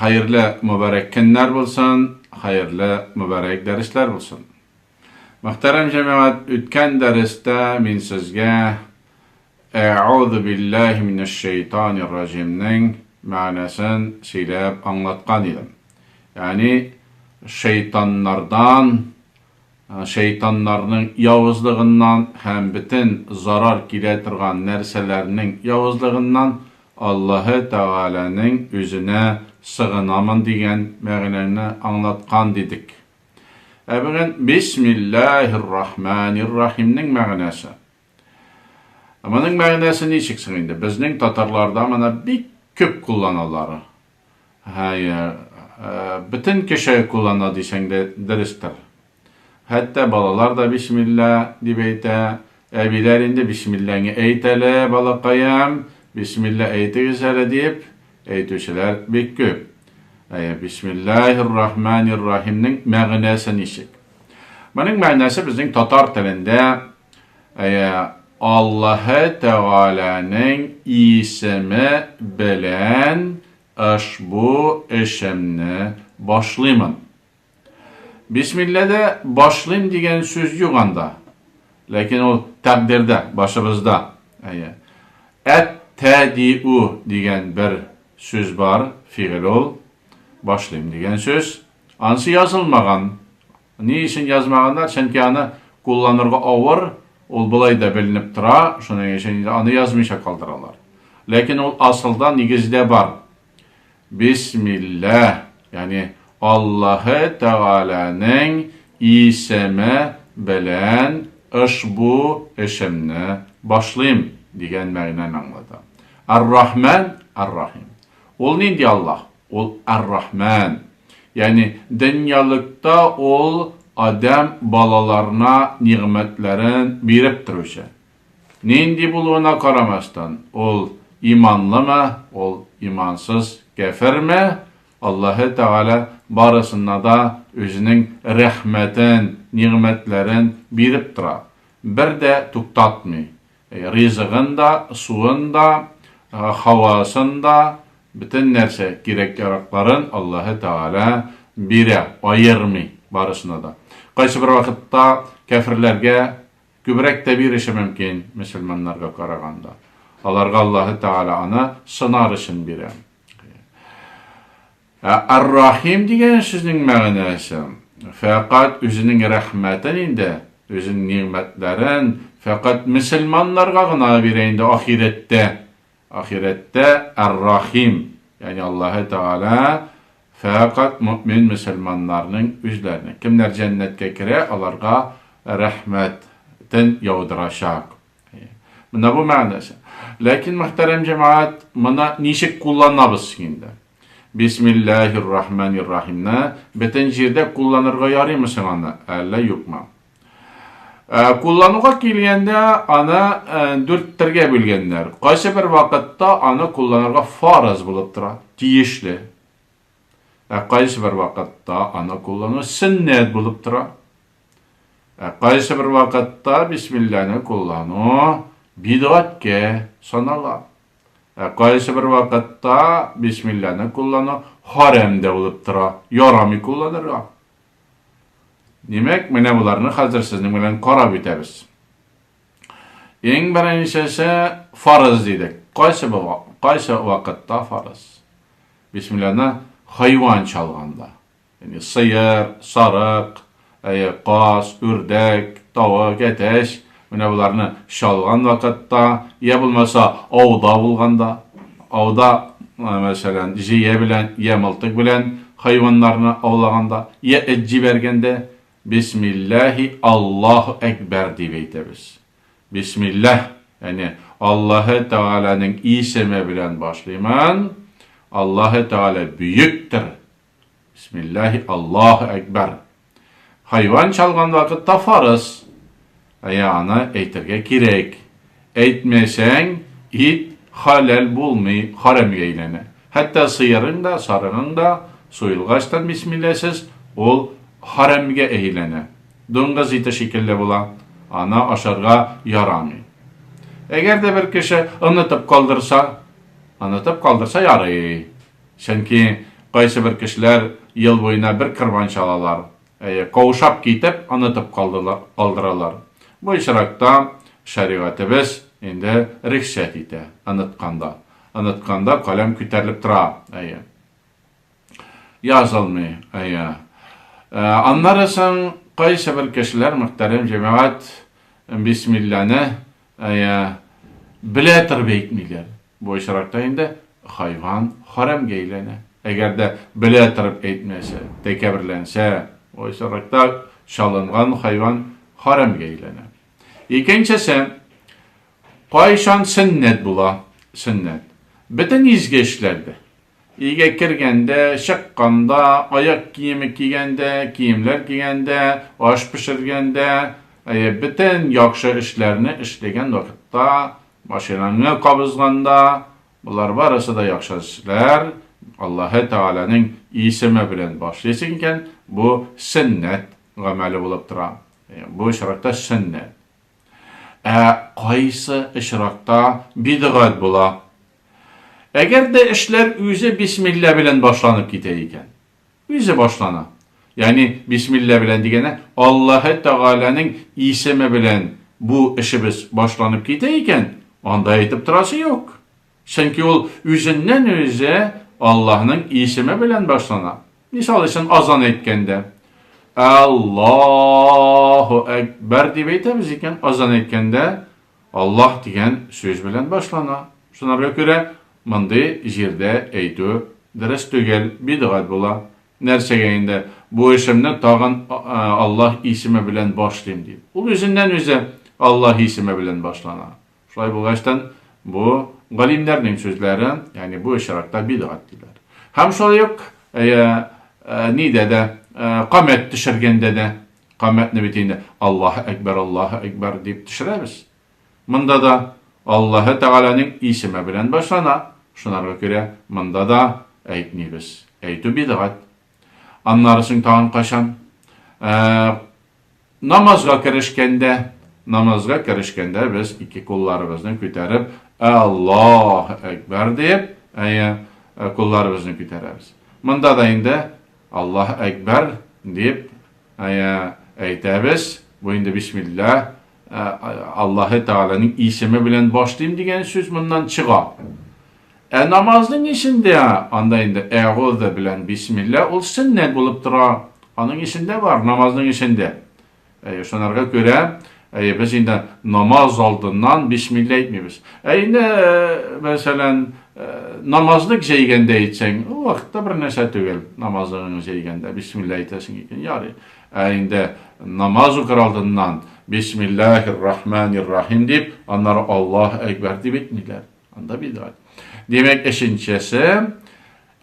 Хәерле мөбарәк көннәр булсын, хәерле мөбарәк дәресләр булсын. Мөхтәрәм җәмәгать, үткән дәрестә мин сезгә Әгъузу биллаһи минәш шәйтанир раҗимнең мәгънәсен сөйләп аңлаткан идем. Ягъни шәйтаннардан Шәйтаннарның явызлыгыннан һәм бөтен зарар килә торган нәрсәләрнең явызлыгыннан Аллаһы Тәгаләнең үзенә сыгынамын дигән мәгънәне аңлаткан дидек. Ә бүген Бисмиллаһир-рахманир-рахимнең мәгънәсе. Моның мәгънәсе ничек соң инде? Безнең татарларда моны бик күп кулланалар. Хәер, бөтен кеше куллана дисәң дә дөрестер. Хәтта балалар да бисмилла дип әйтә. Әбиләр инде бисмиллаңны әйт әле, балакаем, бисмилла әйтегез әле дип әйтүчеләр бик күп. Әйе, бисмиллаһир-рахманир-рахимның мәгънәсе ничек? Моның мәгънәсе безнең татар телендә Әйе, Аллаһы Тәгаләнең исеме белән ошбу эшемне башлыймын. Бисмилләдә башлыйм дигән сүз юк анда. Ләкин ул тәкъдирдә, башыбызда. Әйе. Әттәдиу дигән бер сүз бар, фигыль ул. Башлыйм дигән сүз. Ансы язылмаган. Ни өчен язмаганнар? Чөнки аны кулланырга авыр, ул болай да беленеп тора, шуның өчен инде аны язмыйча калдыралар. Ләкин ул асылда, нигездә бар. Бисмилләһ, ягъни Аллаһы Тәгаләнең исеме белән ошбу эшемне башлыйм, дигән мәгънәне аңлата. Ар-Рахман, Ар-Рахим. Ул нинди Аллаһ? Ул Ар-Рахман. Ягъни дөньялыкта ул адәм балаларына нигъмәтләрен биреп торучы. Нинди булуына карамастан, ул иманлымы, ул имансыз, кяферме, Аллаһы Тәгалә барысына да үзенең рәхмәтен, нигъмәтләрен биреп тора, бер дә туктатмый. Ризыгын да, суын да, һавасын да, бөтен нәрсә кирәк-яракларын Аллаһы Тәгалә бирә, аермый барысына да. Кайсыбер вакытта кяферләргә күбрәк тә биреше мөмкин, мөселманнарга караганда. Аларга Аллаһы Тәгалә аны сынар өчен бирә. Ә Ар-Рахим дигән сүзнең мәгънәсе, фәкать Үзенең рәхмәтен инде, Үзенең нигъмәтләрен фәкать мөселманнарга гына бирә инде ахирәттә. Ахирәттә Ар-Рахим, ягъни Аллаһы Тәгалә фәкать мөэмин мөселманнарның үзләренә, кемнәр җәннәткә керә, аларга рәхмәтен яудырачак. Менә бу мәгънәсе. Ләкин, мөхтәрәм җәмәгать, моны ничек кулланабыз соң инде? Бисмиллаһир-рахманир-рахимны бөтен җирдә кулланырга ярыймы соң аны, әллә юкмы? Ә, куллануга килгәндә, аны ә, дүрт төргә бүлгәннәр. Кайсы бер вакытта аны кулланырга фарыз булып тора, тиешле. Ә кайсы бер вакытта аны куллану сөннәт булып тора. Ә кайсы бер вакытта бисмилланы куллану бидгаткә санала. Ә кайсы бер вакытта бисмилләне куллану хәрәм дә булып тора, ярамый кулланырга. Димәк, менә боларны хәзер сезнең белән карап үтәбез. Иң беренчесе фарыз дидек. Кайсы кайсы вакытта фарыз? Бисмилланы хайван чалганда, Әни, сыер, сарык, әйе, каз, үрдәк, тавык, әтәч, менә боларны чалган вакытта, йә булмаса, ауда булганда, ауда, мәсәлән, җыя белән йә мылтык белән хайваннарны аулаганда, йә эт җибәргәндә, бисмилләһи Аллаһу әкбәр дип әйтәбез. Бисмилләһ, яни Аллаһы Тәгаләнең исеме белән башлыймын, Аллаһы Тәгалә бөектер, Бисмиллаһи Аллаһу әкбәр. Хайван чалган вакытта фарыз. Ә я аны әйтергә кирәк. Әйтмәсәң, ит халәл булмый, хәрәмгә әйләнә. Хәтта сыерың да, сарыгың да суелгачтан бисмилләсез ул хәрәмгә әйләнә. Дуңгыз ите шикелле була, аны ашарга ярамый. Әгәр дә бер кеше онытып калдырса, онытып калдырса ярый. Чөнки кайсыбер кешеләр ел буена бер кырбанч алалар, әйе, каушап китеп, онытып калдыралар. Бу очракта шәригатебез инде рөхсәт итә, онытканда. Онытканда каләм күтәрелеп тора, әйе. Язылмый, әйе. Аннары соң кайсыбер кешеләр, мөхтәрәм җәмәгать, бисмилләне, әйе, белә торып әйтмиләр. Бу очракта инде хайван хәрәмгә әйләнә. Әгәр дә белә торып әйтмәсә, тәкәберләнсә, бу очракта чалынган хайван хәрәмгә әйләнә. Икенчесе, кайчан сөннәт була, сөннәт. Бөтен изге эшләрдә, өйгә кергәндә, чыкканда, аяк киеме кигәндә, киемнәр кигәндә, аш пешергәндә, әйе, бөтен яхшы эшләрне эшләгән вакытта Машинаңны кабызганда, болар барысы да яхшы эшләр, Аллаһы Тәгаләнең исеме белән башлыйсың икән, бу сөннәт гамәле булып тора. Бу очракта сөннәт. Ә кайсы очракта бидгать була? Әгәр дә эшләр үзе бисмилла белән башланып китә икән. Үзе башлана. Ягъни бисмилла белән дигәнә, Аллаһы Тәгаләнең исеме белән бу эшебез башланып китә икән, анда әйтеп торасы юк. Чөнки ул үзеннән-үзе Аллаһның исеме белән башлана. Мисал өчен, азан әйткәндә, Аллаһу әкбәр дип әйтәбез икән, азан әйткәндә, Аллаһ дигән сүз белән башлана. Шунарга күрә мондый җирдә әйтү дөрес түгел, бидгать була. Нәрсәгә инде, бу эшемне тагын Аллаһ исеме белән башлыйм дип. Ул үзеннән-үзе Аллаһ исеме белән башлана. Шулай булгачтын, бу, галимнәрнең сүзләре, ягъни бу очракта бидгать диләр. Һәм шулай ук, әйе, нидә дә, камәт төшергәндә дә, Камәтне бит инде Аллаһы әкбәр, Аллаһы әкбәр дип төшерәбез. Монда да Аллаһы Тәгаләнең исеме белән башлана, шунарга күрә монда да әйтмибез. Әйтү бидгать. Аннары соң тагын кайчан? Ә, намазга керешкәндә, намазга керешкәндә без ике кулларыбызны күтәреп, Аллаһы әкбәр дип, әйе, кулларыбызны күтәрәбез. Монда да инде Аллаһ әкбәр дип әйтәбез, бу инде бисмилла Аллаһы Тәгаләнең исеме белән башлыйм дигән сүз моннан чыга. Ә намазның эчендә анда инде әгъузу белән бисмилла ул сөннәт булып тора. Аның эчендә бар, намазның эчендә. Әйе, шунарга күрә, әйе, без инде намаз алдыннан бисмилла әйтмибез. Ә инде, мәсәлән, намазлык җәйгәндә әйтсәң, ул вакытта бер нәрсә түгел. Намазлыгыңны җәйгәндә бисмилла әйтәсең икән, ярый. Ә инде намаз укыр алдыннан бисмиллахир рахманир рахим дип, аннары Аллаһ әкбәр дип әйтмиләр. Анда бидгат. Димәк, өченчесе,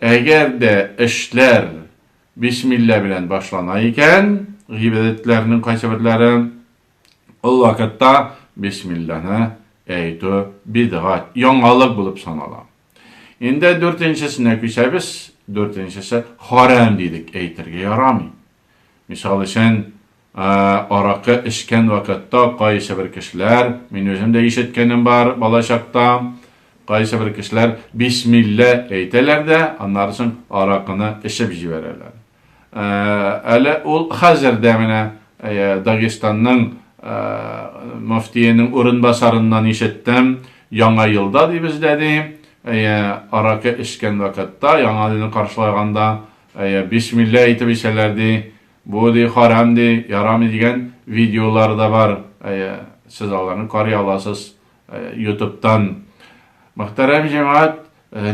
әгәр дә эшләр Бисмилла белән башлана икән, гыйбадәтләрнең кайсыберләре, ул вакытта бисмилланы әйтү бидгать, яңалык булып санала. Инде дүртенчесенә күчәбез, дүртенчесе харам дидек, әйтергә ярамый. Мисал өчен, Ә аракы эчкән вакытта кайсыбер кешеләр, мин үзем дә ишеткәнем бар балачакта, кайсыбер кешеләр бисмиллә әйтәләр дә, аннары соң аракыны эчеп җибәрәләр. Ә әле ул хәзер дә менә Дагестанның мөфтиенең урынбасарыннан ишеттем, Яңа елда ди бездә ди, әйе, аракы эчкән вакытта, Яңа елны каршылаганда, әйе, бисмиллә әйтеп эчәләр ди, Бу ди харам ди, ярамый дигән видеолар да бар, әйе, сез аларны карый аласыз ютубтан. Мөхтәрәм җәмәгать,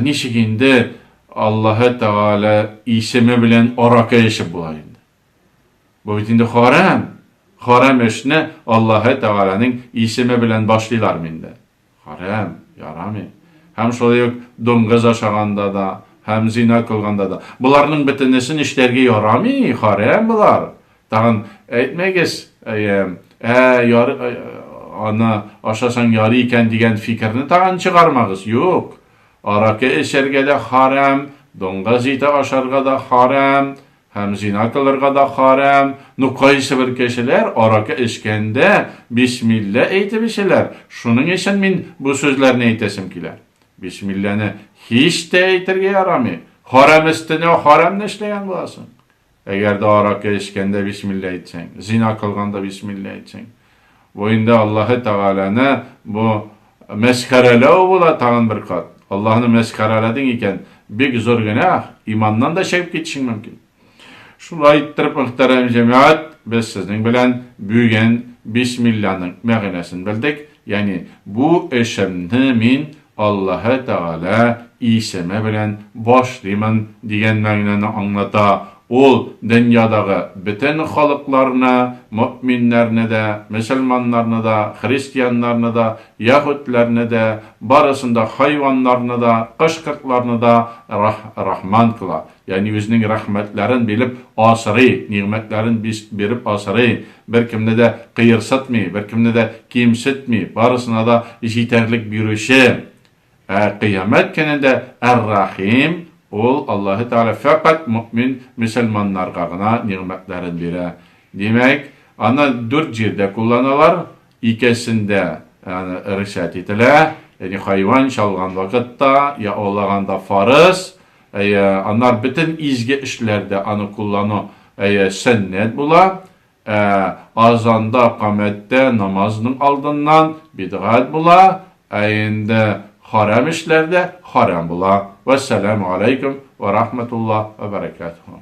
ничек инде Аллаһы Тәгалә исеме белән аракы эчеп була инде? Бу бит инде харам. Харам эшне Аллаһы Тәгаләнең исеме белән башлыйлармы инде? Хәрам, ярамый. Һәм шулай ук дуңгыз ашаганда да, һәм зина кылганда да. Боларның бөтенесен эшләргә ярамый, хәрам болар. Тагын әйтмәгез, әем, ә, яр, аны ашасаң ярый икән дигән фикерне тагын чыгармагыз, юк. Аракы эчәргә дә хәрам, дуңгыз ите ашарга да хәрам, Һәм зина кылырга да хәрам, ну кайсыбер кешеләр аракы эчкәндә бисмилла әйтеп эчәләр, шуның өчен мин бу сүзләрне әйтәсем килә. Бисмилланы һич тә әйтергә ярамый, хәрам өстенә хәрәмне эшләгән буласың. Әгәр дә аракы эчкәндә бисмилла әйтсәң, зина кылганда бисмилла әйтсәң. Бу инде Аллаһы Тәгаләне бу мәсхәрәләү була тагын бер кат. Аллаһны мәсхәрәләдең икән, бик зур гөнаһ, иманнан да чыгып китешең мөмкин. Шулай иттереп, мөхтәрәм җәмәгать, без сезнең белән бүген бисмилланың мәгънәсен белдек, ягъни бу эшемне мин Аллаһы Тәгалә исеме белән башлыймын дигән мәгънәне аңлата, ул дөньядагы бөтен халыкларны, мөэминнәрне дә, мөселманнарны да, христианнарны да, яһүдләрне дә, барысын да, хайваннарны да, кош-кортларны да Рах, Рахман кыла. Ягъни үзенең рәхмәтләрен билеп асрый, нигъмәтләрен биреп асрый, беркемне дә кыерсытмый, беркемне дә кимсетми, барысына да җитәрлек бирүче. Ә Кыямәт көнендә Әр-Рәхим, ул Аллаһы Тәгалә фәкать мөэмин мөселманнарга гына нигъмәтләрен бирә. Димәк, аны дүрт җирдә кулланалар, Икесендә аны рөхсәт ителә, яни хайван чалган вакытта, я аулаганда фарыз, әйе, аннар бөтен изге эшләрдә аны куллану, әйе, сөннәт була, ә азанда, камәттә, намазның алдыннан бидгать була, ә инде харам эшләрдә харам була. Вәссәламү аләйкүм вә рахмәтуллаһ вә бәрәкәтүһү.